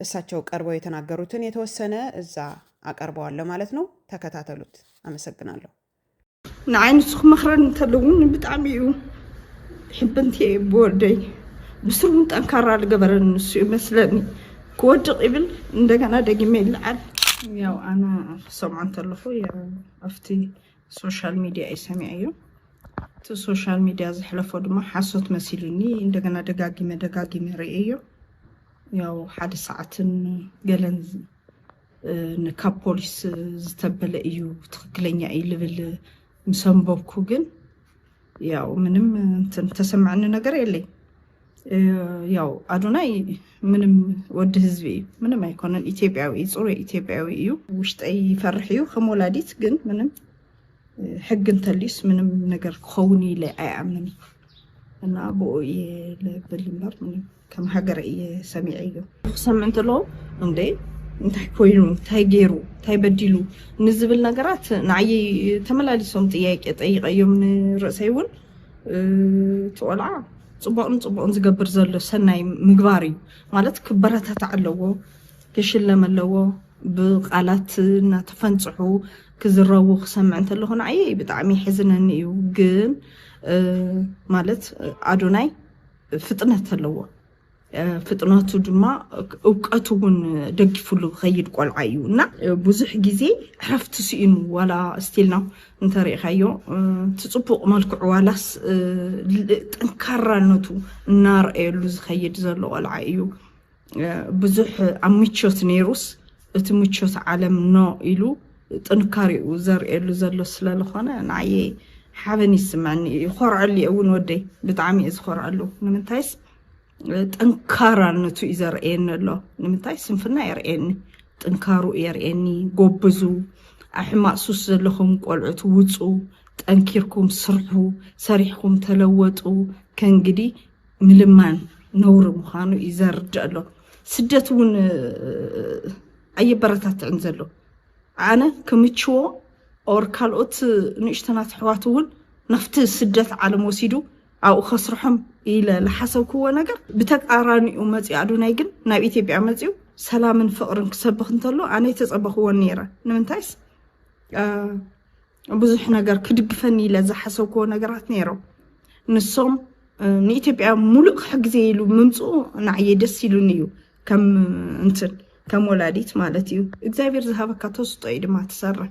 እሳቸው ቀርበው የተናገሩትን የተወሰነ እዛ አቀርበዋለሁ ማለት ነው። ተከታተሉት። አመሰግናለሁ። ንዓይ ንስኹም መኽረን እንተለውን ብጣዕሚ እዩ ሕብንቲ እየ ብወደይ ብስሩ እውን ጠንካራ ዝገበረን ንሱ እዩ መስለኒ ክወድቕ ይብል እንደገና ደጊመ ይለዓል ያው ኣነ ክሰምዖ እንተለኹ ኣብቲ ሶሻል ሚድያ እዩ ሰሚዐዮ እቲ ሶሻል ሚድያ ዘሕለፎ ድማ ሓሶት መሲሉኒ እንደገና ደጋጊመ ደጋጊመ ርእየዮ ያው ሓደ ሰዓትን ገለን ንካብ ፖሊስ ዝተበለ እዩ ትክክለኛ እዩ ልብል ምሰንበብኩ ግን ያው ምንም እንትን ተሰማዕኒ ነገር የለይ ያው ኣዶናይ ምንም ወዲ ህዝቢ እዩ ምንም ኣይኮነን ኢትዮጵያዊ እዩ ፅሩይ ኢትዮጵያዊ እዩ ውሽጠይ ይፈርሕ እዩ ከም ወላዲት ግን ምንም ሕግ እንተልዩስ ምንም ነገር ክኸውን ኢለ ኣይኣምን እና ብኡ እየ ልብል እምበር ምንም ከም ሃገር እየ ሰሚዐዮ ክሰምዕ እንተለዎ እንዴ እንታይ ኮይኑ እንታይ ገይሩ እንታይ በዲሉ ንዝብል ነገራት ንዓይ ተመላሊሶም ጥያቄ ጠይቀዮም ንርእሰይ እውን እቲ ቆልዓ ፅቡቕን ፅቡቕን ዝገብር ዘሎ ሰናይ ምግባር እዩ ማለት ክበረታታዕ ኣለዎ ክሽለም ኣለዎ ብቃላት እናተፈንፅሑ ክዝረቡ ክሰምዕ እንተለኹ ንዓየ ብጣዕሚ ይሕዝነኒ እዩ ግን ማለት ኣዶናይ ፍጥነት ኣለዎ። ፍጥነቱ ድማ እውቀቱ እውን ደጊፉሉ ዝኸይድ ቆልዓ እዩ እና ብዙሕ ግዜ ዕረፍቲ ስኢኑ ዋላ ስቲልና እንተሪእኻዮ እቲ ፅቡቕ መልክዑ ዋላስ ጠንካራነቱ እናርአየሉ ዝኸይድ ዘሎ ቆልዓ እዩ። ብዙሕ ኣብ ምቾት ነይሩስ እቲ ምቾት ዓለም ኖ ኢሉ ጥንካሬኡ ዘርእየሉ ዘሎ ስለዝኾነ ንዓየይ ሓበን ይስምዐኒ እዩ ይኾርዐሉ እየ እውን ወደይ ብጣዕሚ እየ ዝኾርዐሉ ንምንታይስ ጠንካራነቱ እዩ ዘርእየኒ ኣሎ ንምንታይ ስንፍና የርእየኒ ጥንካሩ የርእየኒ ጎብዙ ኣሕማቅ ሱስ ዘለኹም ቆልዑት ውፁ ጠንኪርኩም ስርሑ ሰሪሕኩም ተለወጡ ከእንግዲህ ምልማን ነውሪ ምዃኑ እዩ ዘርድእ ኣሎ ስደት እውን ኣየበረታትዕን ዘሎ ኣነ ክምችዎ ኦር ካልኦት ንእሽተናት ኣሕዋት እውን ናብቲ ስደት ዓለም ወሲዱ ኣብኡ ከስርሖም ኢለ ዝሓሰብክዎ ነገር ብተቃራኒኡ መፅኡ ኣዶናይ ግን ናብ ኢትዮጵያ መፅኡ ሰላምን ፍቅርን ክሰብኽ እንተሎ ኣነ ተፀበኽዎን ነይረ ንምንታይስ ብዙሕ ነገር ክድግፈኒ ኢለ ዝሓሰብክዎ ነገራት ነይሮም ንሶም ንኢትዮጵያ ሙሉእ ክሕግዜ ኢሉ ምምፅኡ ንዓየ ደስ ኢሉኒ እዩ ከም እንትን ከም ወላዲት ማለት እዩ እግዚኣብሔር ዝሃበካ ተስጦ እዩ ድማ ትሰርሕ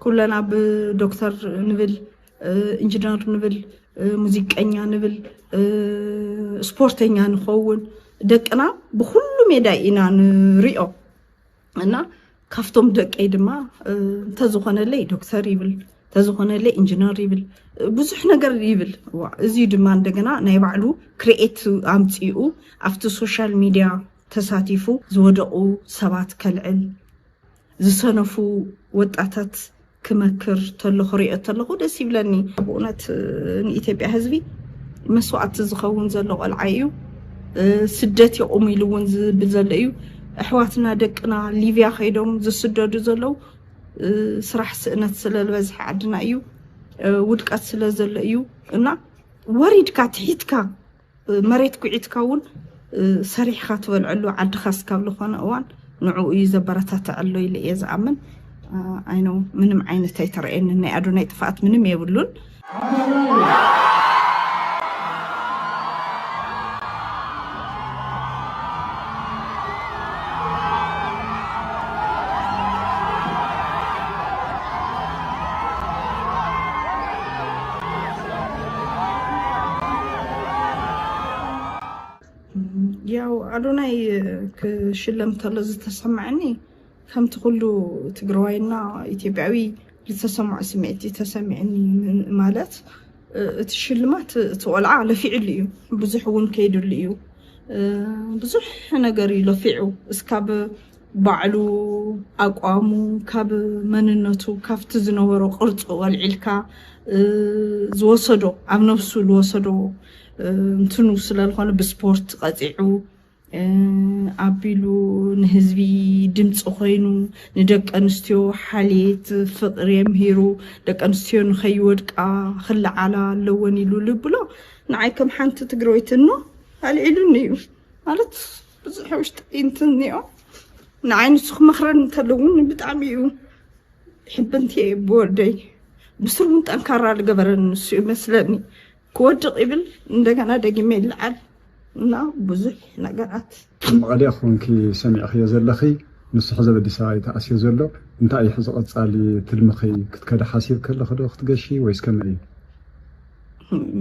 ኩለና ብዶክተር ንብል ኢንጂነር ንብል ሙዚቀኛ ንብል ስፖርተኛ ንኸውን ደቅና ብኩሉ ሜዳ ኢና ንሪኦ እና ካብቶም ደቀይ ድማ እንተዝኾነለይ ዶክተር ይብል እንተዝኾነለይ ኢንጂነር ይብል ብዙሕ ነገር ይብል እዚ ድማ እንደገና ናይ ባዕሉ ክርኤት ኣምፂኡ ኣብቲ ሶሻል ሚድያ ተሳቲፉ ዝወደቑ ሰባት ከልዕል ዝሰነፉ ወጣታት ክመክር ተሎ ክሪኦ ተለኹ ደስ ይብለኒ ብእውነት ንኢትዮጵያ ህዝቢ መስዋእቲ ዝኸውን ዘሎ ቆልዓ እዩ ስደት የቑሙ ኢሉ እውን ዝብል ዘሎ እዩ ኣሕዋትና ደቅና ሊብያ ከይዶም ዝስደዱ ዘለው ስራሕ ስእነት ስለዝበዝሐ ዓድና እዩ ውድቀት ስለ ዘሎ እዩ እና ወሪድካ ትሒትካ መሬት ኩዒትካ እውን ሰሪሕኻ ትበልዐሉ ዓድኻ እስካብ ዝኾነ እዋን ንዕኡ እዩ ዘበረታትዕ ኣሎ ኢለ እየ ዝኣምን ኣይነው ምንም ዓይነት ኣይተረእየንን ናይ ኣዶናይ ጥፍኣት ምንም የብሉን ያው ኣዶናይ ክሽለም ተሎ ዝተሰማዐኒ ከምቲ ኩሉ ትግራዋይና ኢትዮጵያዊ ዝተሰምዖ ስምዒት እዩ ተሰሚዕኒ ማለት እቲ ሽልማት እቲ ቆልዓ ለፊዕሉ እዩ ብዙሕ እውን ከይድሉ እዩ ብዙሕ ነገር እዩ ለፊዑ እስካብ ባዕሉ ኣቋሙ ካብ መንነቱ ካብቲ ዝነበሮ ቅርጹ ወልዒልካ ዝወሰዶ ኣብ ነብሱ ዝወሰዶ እንትኑ ስለዝኾነ ብስፖርት ቀጺዑ ኣቢሉ ንህዝቢ ድምፂ ኮይኑ ንደቂ ኣንስትዮ ሓልየት ፍቅሪ የምሂሩ ደቂ ኣንስትዮ ንኸይወድቃ ክለዓላ ኣለወን ኢሉ ልብሎ ንዓይ ከም ሓንቲ ትግራወይቲ እኖ ኣልዒሉኒ እዩ ማለት ብዙሕ ውሽጢ ጴንት እኒኦ ንዓይ ንሱ ክመኽረን እንተለውን ብጣዕሚ እዩ ሕብንቲ እየ ብወደይ ብስሩ እውን ጠንካራ ዝገበረን ንሱ እዩ መስለኒ ክወድቕ ይብል እንደገና ደጊመ ይለዓል እና ብዙሕ ነገራት ኣብ መቐለ ኮንኪ ሰሚዕኽዮ ዘለኺ ንሱ ሕዚ ኣብ ኣዲስ ኣበባ እዩ ተኣስዮ ዘሎ እንታይ እዩ ሕዚ ቐፃሊ ትልምኺ ክትከዲ ሓሲብኪ ኣለኺ ዶ ክትገሺ ወይስ ከመይ እዩ?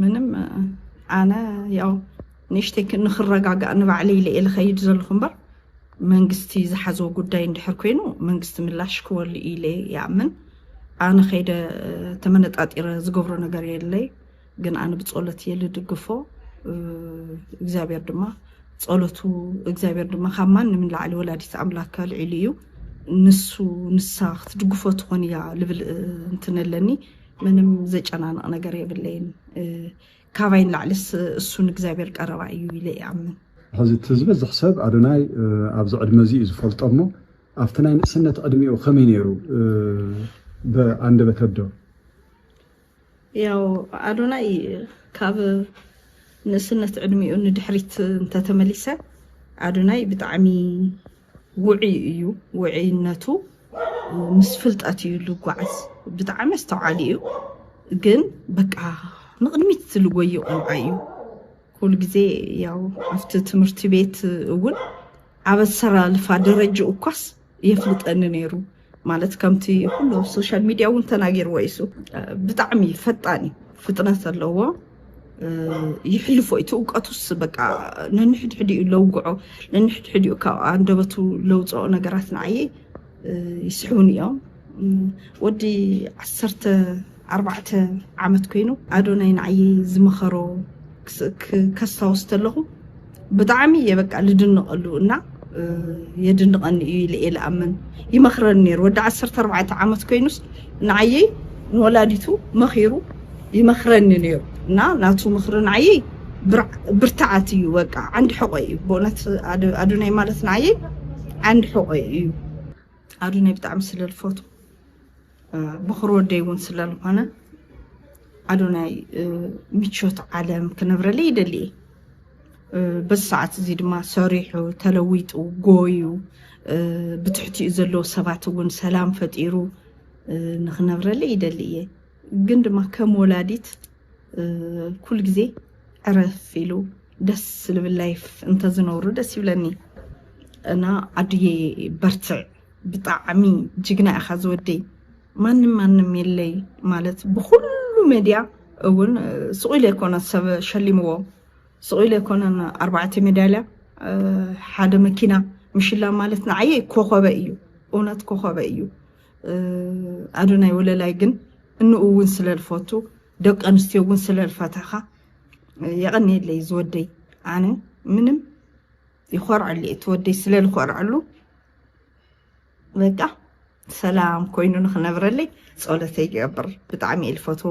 ምንም ኣነ ያው ንእሽተይ ንክረጋጋእ ንባዕለይ ኢለ እየ ልኸይድ ዘለኹ እምበር መንግስቲ ዝሓዞ ጉዳይ እንድሕር ኮይኑ መንግስቲ ምላሽ ክወሉ እዩ ኢለ ይኣምን። ኣነ ከይደ ተመነጣጢረ ዝገብሮ ነገር የለይ ግን ኣነ ብጸሎት እየ ልድግፎ እግዚኣብሔር ድማ ጸሎቱ እግዚኣብሔር ድማ ካብ ማንም ንላዕሊ ወላዲት ኣምላክ ኣልዒሉ እዩ ንሱ ንሳ ክትድግፎ ትኾን እያ ልብል እንትን ኣለኒ ምንም ዘጨናንቕ ነገር የብለይን ካባይ ንላዕሊስ እሱ ንእግዚኣብሔር ቀረባ እዩ ኢለ እኣምን። ሕዚ እቲ ዝበዝሕ ሰብ ኣዶናይ ኣብዚ ዕድመ እዚ እዩ ዝፈልጦ እሞ ኣብቲ ናይ ንእስነት ዕድሜኡ ከመይ ነይሩ ብኣንደበት ኣዶ? ያው ኣዶናይ ካብ ንእስነት ዕድሜኡ ንድሕሪት እንተተመሊሰ ኣዶናይ ብጣዕሚ ውዑይ እዩ ውዑይነቱ ምስ ፍልጠት እዩ ልጓዓዝ ብጣዕሚ ኣስተውዓሊ እዩ ግን በቃ ንቕድሚት ዝልጎዩ ቆልዓ እዩ ኩሉ ግዜ ያው ኣብቲ ትምህርቲ ቤት እውን ኣብ ኣሰላልፋ ደረጅኡ እኳስ የፍልጠኒ ነይሩ ማለት ከምቲ ኩሉ ኣብ ሶሻል ሚድያ እውን ተናጊርዎ እዩ እሱ ብጣዕሚ ፈጣን እዩ ፍጥነት ዘለዎ ይሕልፎ እዩ ትእውቀቱስ በቃ ነንሕድሕድ እዩ ለውግዖ ነንሕድሕድ እዩ ካብ ኣንደበቱ ለውፅኦ ነገራት ንዓየ ይስሕቡን እዮም ወዲ ዓሰርተ ኣርባዕተ ዓመት ኮይኑ ኣዶናይ ንዓይ ዝመኸሮ ከስታውስ ተለኹ ብጣዕሚ እየ በቃ ልድንቐሉ እና የድንቐኒ እዩ ኢለ እየ ልኣምን ይመኽረኒ ነይሩ ወዲ ዓሰርተ ኣርባዕተ ዓመት ኮይኑስ ንዓየይ ንወላዲቱ መኺሩ ይመኽረኒ ነይሩ እና ናቱ ምኽሪ ንዓየይ ብርትዓት እዩ በቃ ዓንዲ ሕቆ እዩ ብእውነት ኣዶናይ ማለት ንዓየይ ዓንዲ ሕቆ እዩ ኣዶናይ ብጣዕሚ ስለልፈቱ ብኹር ወደይ እውን ስለዝኾነ ኣዶናይ ምቾት ዓለም ክነብረለይ ይደሊ እየ በዚ ሰዓት እዚ ድማ ሰሪሑ ተለዊጡ ጎዩ ብትሕቲኡ ዘለዉ ሰባት እውን ሰላም ፈጢሩ ንክነብረለይ ይደሊ እየ ግን ድማ ከም ወላዲት ኩል ግዜ ዕረፍ ኢሉ ደስ ዝብል ላይፍ እንተዝነብሩ ደስ ይብለኒ እና ኣድዬ በርትዕ ብጣዕሚ ጅግና ኢኻ ዝወደይ ማንም ማንም የለይ ማለት ብኩሉ መድያ እውን ስቁ ኢለ ኣይኮነ ሰብ ሸሊምዎ ስቁ ኢለ ኣይኮነን ኣርባዕተ ሜዳልያ ሓደ መኪና ምሽላም ማለት ንዓየይ ኮኸበ እዩ እውነት ኮኸበ እዩ ኣዶናይ ወለላይ ግን እንኡ እውን ስለልፈቱ ደቂ ኣንስትዮ እውን ስለልፈተኻ የቐኒየለይ ዝወደይ ኣነ ምንም ይኾርዐሉ እዩ እቲ ወደይ ስለ ዝኾርዐሉ በቃ ሰላም ኮይኑ ንክነብረለይ ጸሎተይ ይገብር ብጣዕሚ እየ ዝፈትዎ